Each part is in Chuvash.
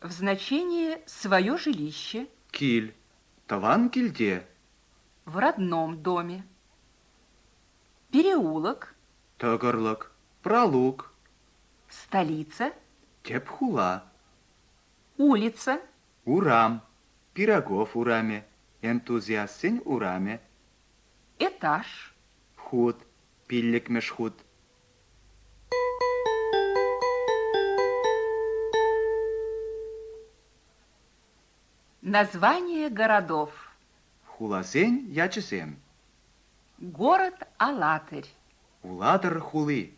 В значении свое жилище. Кил, тӑван килте. В родном доме. Переулок. Тӑкӑрлӑк, пралук. Столица. Тӗп хула. Улица. Урам, Пирогов урамӗ, Энтузиастсен урамӗ. Этаж. Хут, пиллӗкмӗш хут. Название городов Хуласен ячӗсем Город Алатырь Улатӑр хули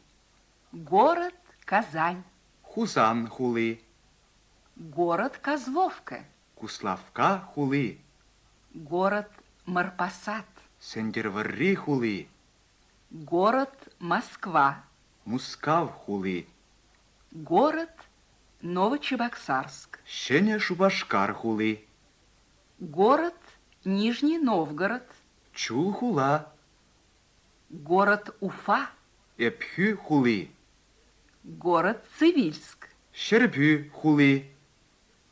Город Казань Хусан хули Город Козловка Куславка хули Город Марпасад Сӗнтӗрвӑрри хули Город Москва. Мускав хули. Город Новочебоксарск. Ҫӗнӗ Шупашкар хули. Город Нижний Новгород. Чул хула. Город Уфа. Ӗпхӳ хули. Город Цивильск. Ҫӗрпӳ хули.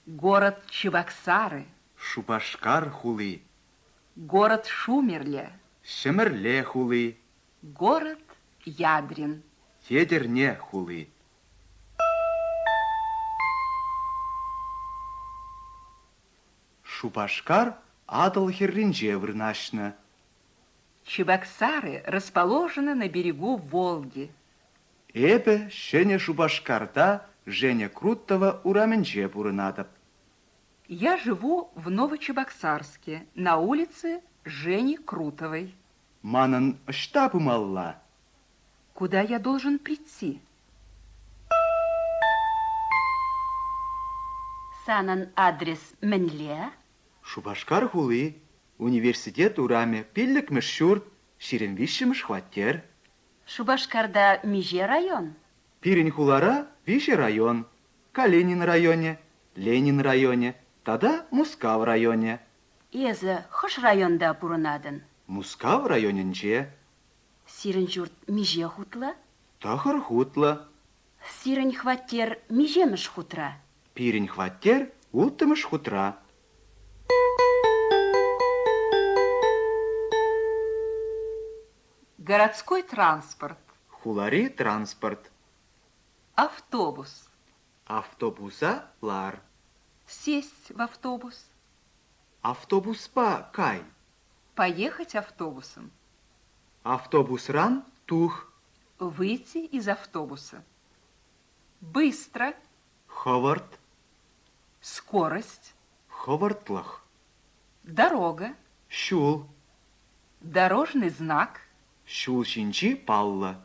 Город Чебоксары. Шупашкар хули. Город Шумерле. Ҫӗмӗрле хули. Город Ядрин. Етӗрне хули. Шупашкар Атӑл хӗрринче вырнаҫнӑ. Чебоксары расположены на берегу Волги. Эпӗ Ҫӗнӗ Шупашкарта Женя Крутова урамӗнче пурӑнатӑп. Я живу в Новочебоксарске на улице Жени Крутовой. Манӑн ӑҫта пымалла? Куда я должен прийти? Санӑн адрес мӗнле? Шупашкар хули, университет урамӗ, пиллӗкмӗш ҫурт, ҫирӗм виҫҫӗмӗш хваттер. Шупашкарта миҫе район? Пирӗн хулара виҫӗ район, Калинин районӗ, Ленин районӗ тата Мускав районӗ. Эсӗ хӑш районта пурӑнатӑн? Мускав районӗнче. Сирӗн ҫурт миҫе хутлӑ? Тӑхӑр хутлӑ. Сирӗн хваттер миҫемӗш хутра? Пирӗн хваттер улттӑмӗш хутра. Городской транспорт. Хулари транспорт. Автобус. Автобуса лар. Сесть в автобус. Автобуспа кай. Поехать автобусом. Автобусран тух. Выйти из автобуса. Быстро. Ховард. Скорость. Ховардлах. Дорога. Щул. Дорожный знак. Ҫул ҫинчи палла.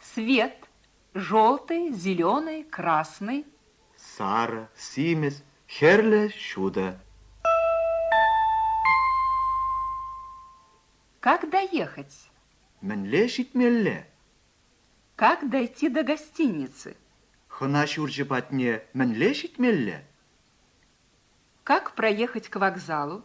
Свет желтый, зеленый, красный. Сарӑ, симӗс, хӗрлӗ, ҫутӑ. Как доехать? Мӗнле ҫитмелле? Как дойти до гостиницы? Хӑна ҫурчӗ патне мӗнле ҫитмелле? Как проехать к вокзалу?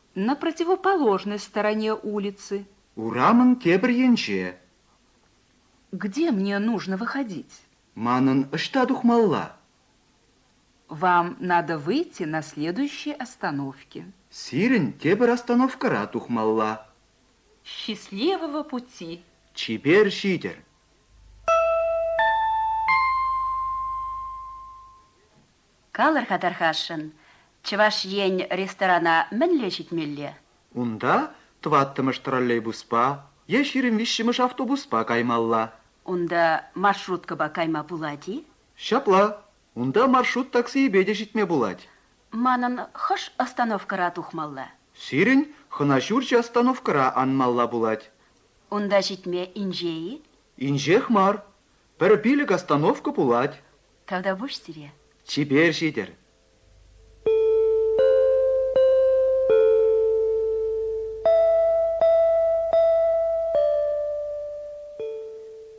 на противоположной стороне улицы. Урамӑн тепӗр енче. Где мне нужно выходить? Манӑн ӑҫта тухмалла? Вам надо выйти на следующей остановке. Сирӗн тепӗр остановкӑра тухмалла. Счастливого пути. Чипер ҫитӗр. Калӑр-ха, тархасшӑн, Чӑваш Ен ресторана мӗнле ҫитмелле? Унта тӑваттӑмӗш троллейбуспа е ҫирӗм виҫҫӗмӗш автобуспа каймалла. Унта маршруткӑпа кайма пулать-и? Ҫапла, унта маршрут таксийӗпе те ҫитме пулать. Манӑн хӑш остановкӑра тухмалла? Сирӗн хӑна ҫурчӗ остановкӑра анмалла пулать. Унта ҫитме инҫе-и? Инҫех мар, пӗр пилӗк остановка пулать. Тавтапуҫ сире. Чипер ҫитӗр!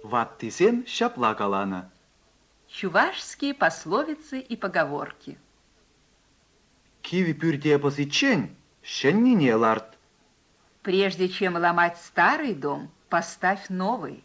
Ваттисем ҫапла каланӑ. Чувашские пословицы и поговорки. Кив пӳрте пӑсиччен ҫӗннине ларт. Прежде чем ломать старый дом, поставь новый.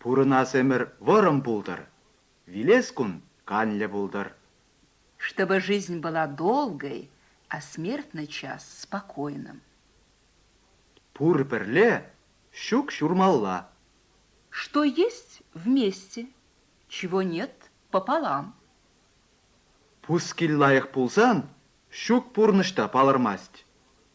Пурӑнас ӗмӗр вӑрӑм пултӑр, вилес кун канлӗ пултӑр. Чтобы жизнь была долгой, а смертный час спокойным. Пур пӗрле, ҫук ҫурмалла. Что есть вместе, чего нет пополам. Пускил лайӑх пулсан, ҫук пурнӑҫ та палӑрмасть.